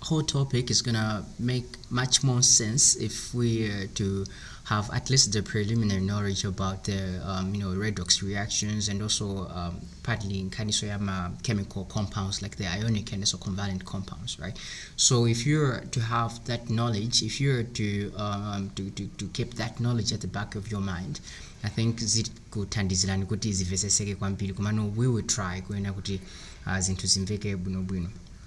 whole topic is gonna make much more sense if we are to have at least the preliminary knowledge about the um, you know redox reactions and also um, partly nkhaniso ya ma chemical compounds like the ionic kaninso covalent compounds right so if you're to have that knowledge if you're to um, to, to, to keep that knowledge at the back of your mind i think zikuthandizirani kuti zimveseseke kwambiri komano we will try kuona kuti uh, zinthu zimveke bwinobwino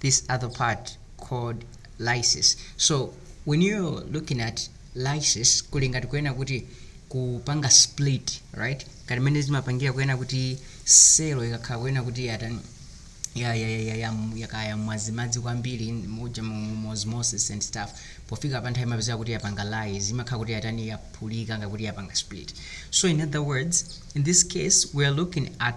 this other part called lysis so when you're looking at lysis kuli ngati kuena kuti kupanga split right ngati mmene zimapangira kuena kuti selo ikakhala kuena kuti yatani ya ya ya ya ya yakaya mwazimadzi kwambiri muja mu- mu- mu osmosis and stuff pofika pa nthawi imapezeka kuti yapanga lies imakhala kuti yatani yaphulika ngakuti yapanga split so in other words in this case we are looking at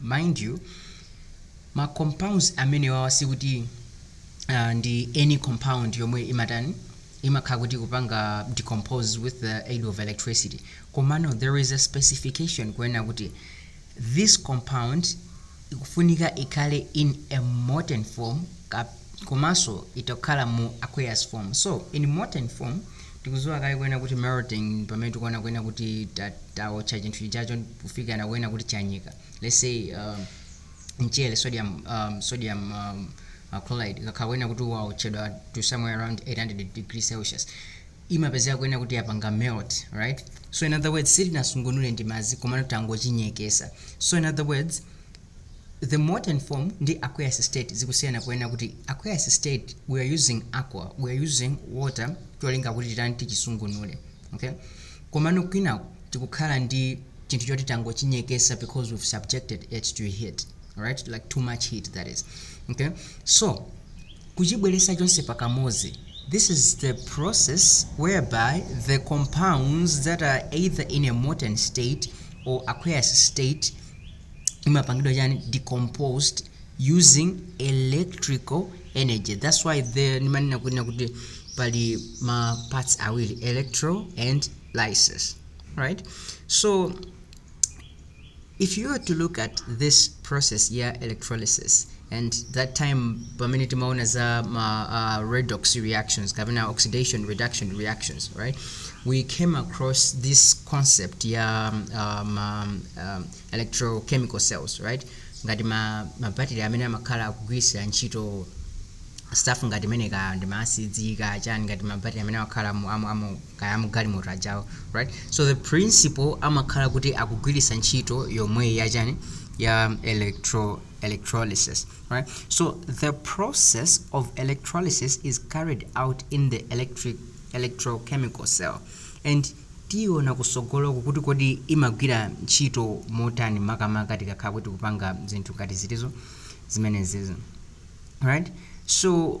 Mind you, ma compounds amenewawa sikuti ndi any compound yomwe imatani, imakhala kuti ikupanga decompose with the aid of electricity, komano there is a specification kunena kuti this compound ikufunika ikhale in a molten form komanso itha kukhala mu aqueous form. So in molten form Tikuziwa kale kunena kuti melting pamene tikuona kunena kuti ta, taotcha chinthu chijachi kufikira kunena kuti chanyeka let's say um, mchere sodium um, sodium um, uh, chloride ukakhala kunena kuti waotchedwa to somewhere around 800 degree celsius imapezeka kunena kuti yapanga melt right so in other words sitinasungunule ndi madzi komano tangochinyekesa so in other words The molten form ndi Aqueous state zikusiyana ponena kuti Aqueous state we are using aqua, we are using water cholinga kuti titani tichisungunule okay komano kwinaku tikukhala ndi chinthu choti tangochinyekesa because we've subjected it to heat alright like too much heat that is okay so kuchibweresa chonse pakamodzi This is the process whereby the compounds that are either in a molten state or aqueous state imapangidwa chani decomposed using electrical energy that's why there ndimanena kunena kuti pali ma parts awiri electro and lysis right so if you were to look at this process ya electrolysis and that time pamene timaona za ma uh, redox reactions kapena oxidation reduction reactions right we came across this concept ya um, um, um, electrochemical cells right ngati ma, ma battery amene amakhala akugwiritsira ntchito stuff ngati imene kaya ndi maasidi kaya chani ngati mabattery amene amakhala amu- amu- amu- kaya amugalimoto ajawa right so the principle amakhala kuti akugwiritsa ntchito yomweyi yachani ya electro electrolysis right so the process of electrolysis is carried out in the electric electrochemical cell and tiona kusogoloku kuti kodi imagwira ntchito motani makamaka tikakhala kuti tikupanga zinthu ngati zitsulo zimenezizi right so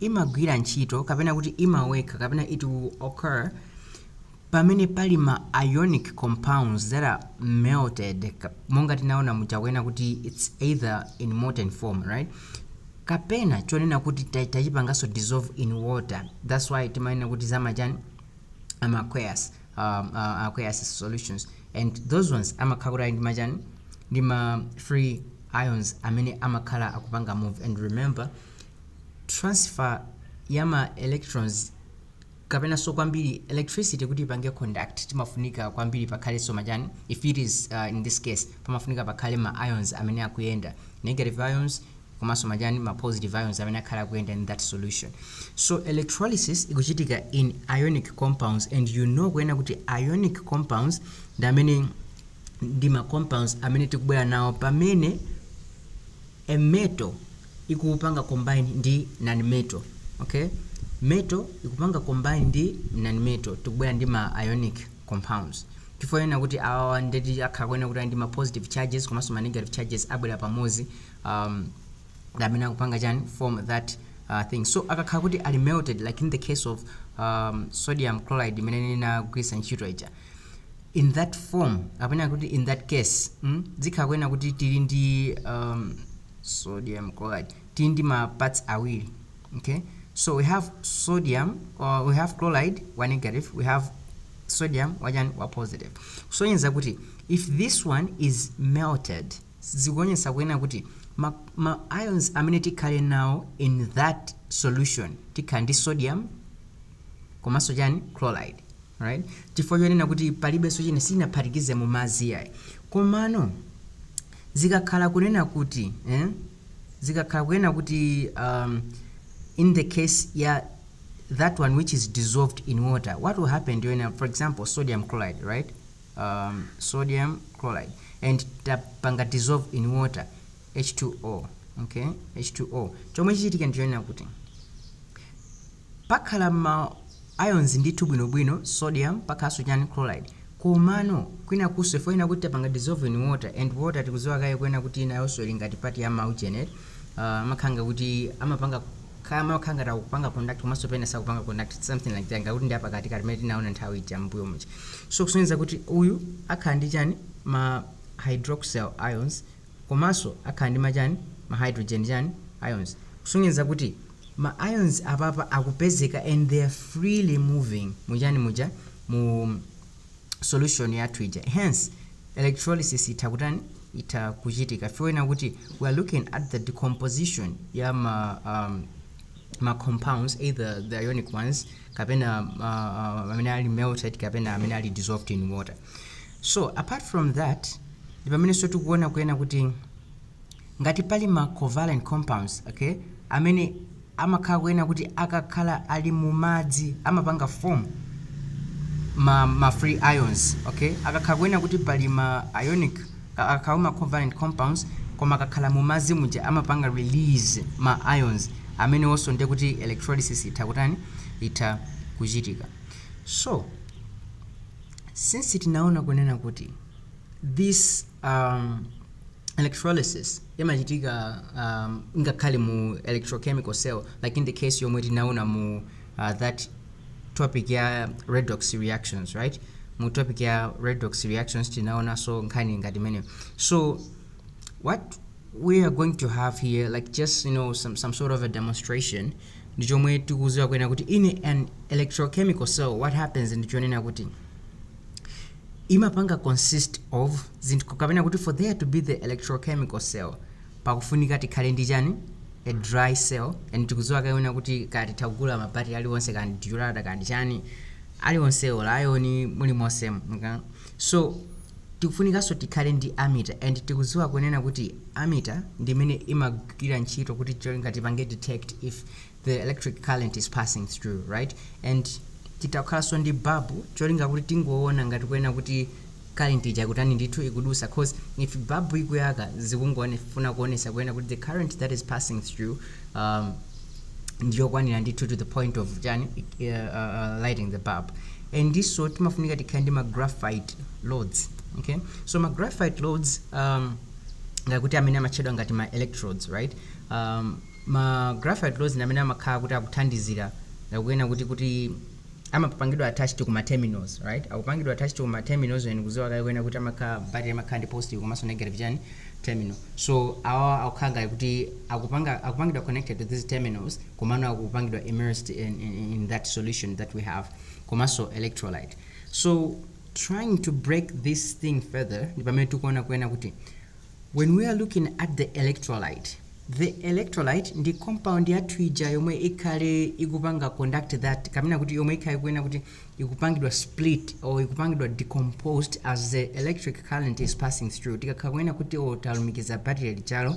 imagwira ntchito kapena kuti imawekha kapena it will occur pamene pali ma ionic compounds that are melted monga tinaona muja kunena kuti it's either in molten form right kapena chonena kuti tachipangaso dissolve in water that's why timanena kuti zamachani ama aqueous um, uh, aqueous solutions and those ones amakhala kuti ali ndi machani ndi ma free ions amene amakhala akupanga move and remember transfer ya ma electrons kapenanso kwambiri electricity kuti ipange conduct timafunika kwambiri pakhalenso machani if it is uh, in this case pamafunika pakhale ma ions amene akuyenda negative ions komanso machani ma positive ions amene akhale akuyenda in that solution so electrolysis ikuchitika mu ionic compounds and you know kunena kuti ionic compounds ndi amene ndi ma compounds amene tikubwera nawo pamene a metal ikupanga combine ndi non metal okay metal ikupanga combine ndi non metal tikubwera ndi ma ionic compounds chifukwa chonena kuti awawa ndiye kuti akhala kunena kuti ali ndi ma positive charges komanso ma negative charges abwera pamodzi um, amene akupanga chani form that uh, thing so akakhala kuti ali melted like in the case of um, sodium chloride imene ndinagwiritsa ntchito ija in that form kapena kuti in that case mm, zikhala kunena kuti tili ndi um, sodium chloride tili ndi ma parts awiri okay so we have sodium or we have chloride wa negative we have sodium wachani wa positive kusonyeza kuti if this one is melted zikuonetsa kunena kuti ma, ma ions amene tikhale nawo in that solution tikhala ndi sodium komanso chani chloride right chifukwa chonena kuti palibenso chimene tinaphatikiza mu madzi ayi komano Zikakhala kunena kuti, eh, zikakhala kunena kuti, um, in the case ya that one which is dissolved in water, what will happen to ena, for example, sodium chloride, right? Um, sodium chloride. And tapanga dissolve in water, H2O, okay? H2O. Chomwe chichitike ndi chonena kuti, Pakhala ma ions ndithu bwino bwino, sodium, pakhalanso chani, chloride, komano kwinakunso chifukwa chonena kuti tapanga dissolve in water and water tikudziwa kale kunena kuti nayonso ili ngati part ya ma ujeni eti, aah amakhala nga kuti amapanga kaya amakhala ngati akupanga conduct komanso pena sakupanga conduct its something like that nga kuti ndi apakatikati mmene tinaona nthawi ija mmbuyo muja so kusonyeza kuti uyu akhala ndi chani ma hydroxyl ions komanso akhala ndi ma chani ma hydrogen chani ions kusonyeza kuti ma ions apapa akupezeka and they are freely moving mu chani muja mu solution yathu ija hence electrolysis itha kutani itha kuchitika chifukwa kunena kuti we are looking at the decomposition ya ma um, ma compounds either the ionic ones kapena uh, uh, amene ali melted kapena amene ali dissolved in water So apart from that ndipamenenso tikuona kunena kuti ngati pali ma covalent compounds okay amene amakhala kunena kuti akakhala ali mumadzi amapanga form ma, ma free ions okay akakhala kunena kuti pali ma ionic ka- akakhala ma covalent compounds koma akakhala mumadzi muja amapanga release ma ions amenewonso ndiye kuti electrolysis itha kutani itha kuchitika so Since tinaona kunena kuti this um, electrolysis imachitika um, ngakhale mu electrochemical cell like in the case yomwe tinaona mu uh, that topic ya redox reactions right mu topic ya redox reactions tinaonanso nkhani ngati imeneyi so what we are going to have here like just you know some, some sort of a demonstration ndi chomwe tikuziwa kunena kuti in an electrochemical cell what happens ndi chonena kuti imapanga consist of zinthu kapena kuti for there to be the electrochemical cell pakufunika tikhale ndi chani a dry cell and tikuziwa kunena kuti kaya titha kugula mabatire aliwonse kaya ndi durata kaya ndi chani aliwonse olayoni mulimonsemo So tikufunikanso tikhale ndi ammeter and tikuziwa kunena kuti ammeter ndi imene imagwira ntchito kuti cholinga tipange detect if the electric current is passing through right and titha kukhalanso ndi bulb cholinga kuti tingoona ngati kunena kuti current ija ikutani ndithu ikudusa cause if bulb ikuyaka zikungofuna kuonesa kunena kuti the current that is passing through um, ndiyokwanira ndithu to the point of chani uh, uh, lighting the bulb ndinso timafunika tikhale ndi ma graphite rods okay so ma graphite rods um, ngati kuti amene amatchedwa ngati ma electrodes right um, ma graphite rods ndi amene amakhala kuti akuthandizira kunena kuti kuti amapangidwa attached ku ma terminals right akupangidwa attached ku ma terminals and tikuziwa kale kunena kuti amakhala battery amakhala ndi positive komanso negative chani terminal so awa akukhala ngati kuti akupanga akupangidwa connected to these terminals komanso akupangidwa immersed in, in, in that solution that we have komanso electrolyte so trying to break this thing further ndi pamene tikuona kuena kuti when we are looking at the electrolyte the electrolyte ndi compound yathu ija yomwe ikhale ikupanga conduct that kapena kuti yomwe ikhale kuena kuti ikupangidwa split or ikupangidwa decomposed as the electric current is passing through tikakhala kuena kuti talumikiza battery lijalo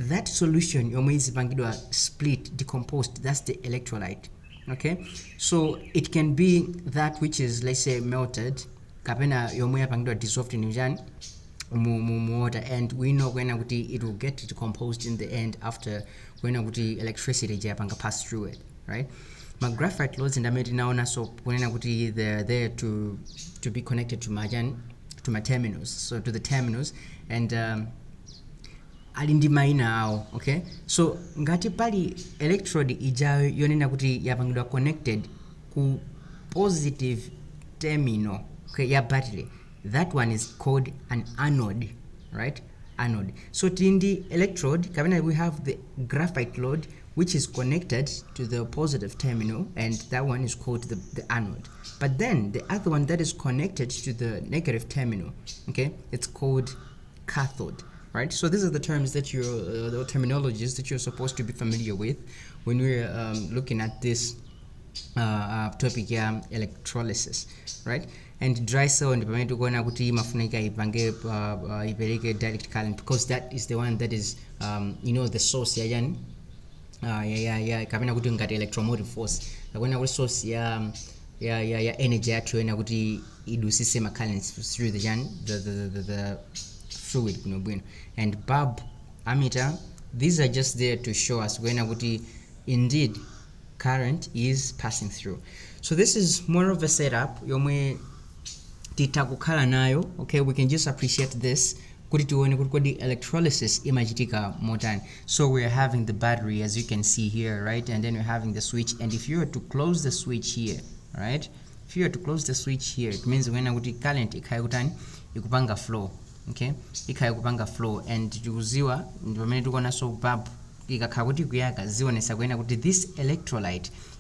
that solution yomwe izipangidwa split decomposed that's the electrolyte okay so it can be that which is let's say melted kapena yomwe yapangidwa dissolved in chani mu, mu, mu water and we know kwena kuti it will get decomposed in the end after kwena kuti electricity ija yapanga pass through it right ma graphite rods ndi amene tinaonanso kunena kuti they're there to, to be connected to machani to ma terminals so to the terminals and um, ali ndi maina awo okay so ngati pali electrode ija yonena kuti yapangidwa connected ku positive terminal okay, ya battery that one is called an anode right anode so tili ndi electrode kapena we have the graphite load which is connected to the positive terminal and that one is called the, the anode but then the other one that is connected to the negative terminal okay it's called cathode right so these are the terms that you uh, the terminologies that you're supposed to be familiar with when we're um, looking at this uh, uh topic ya electrolysis right and dry cell and pamene tikuona kuti imafunika ipange uh, uh, ipereke direct current because that is the one that is um, you know the source yachani uh, ya, ya, ya kapena kuti ngati electromotive force kapena kuti source ya um, ya ya ya energy yathu yoyena kuti idutsitse ma currents through the chani the, the, the, the, the fluid bwino bwino and bulb ammeter these are just there to show us kuena kuti indeed current is passing through so this is more of a setup yomwe titha kukhala nayo okay we can just appreciate this kuti tione kuti kodi electrolysis imachitika motani So we're having the battery as you can see here, right? And then we're having the switch. And if you were to close the switch here, right? If you were to close the switch here, it means when kuti current ikhaya kutani ikupanga flow, okay? Ikhaya kupanga flow and tikuziwa ndi pamene tikuona so bulb ikakhala kuti kuyaka zionesa kuyena kuti this electrolyte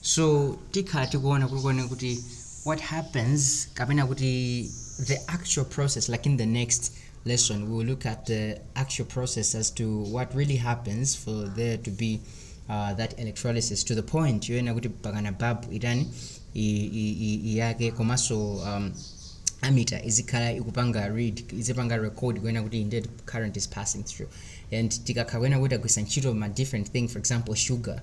so tikhala tikuona kunena kuti what happens kapena kuti the actual process like in the next lesson we will look at the actual process as to what really happens for there to be uh, that electrolysis to the point yoyena kuti mpakana babu itani i- i- i- iyake komanso um, ammeter izikhala ikupanga read izipanga record kuena kuti indeed current is passing through and tikakhala kuena kuti tagwitsa ntchito ma different thing for example sugar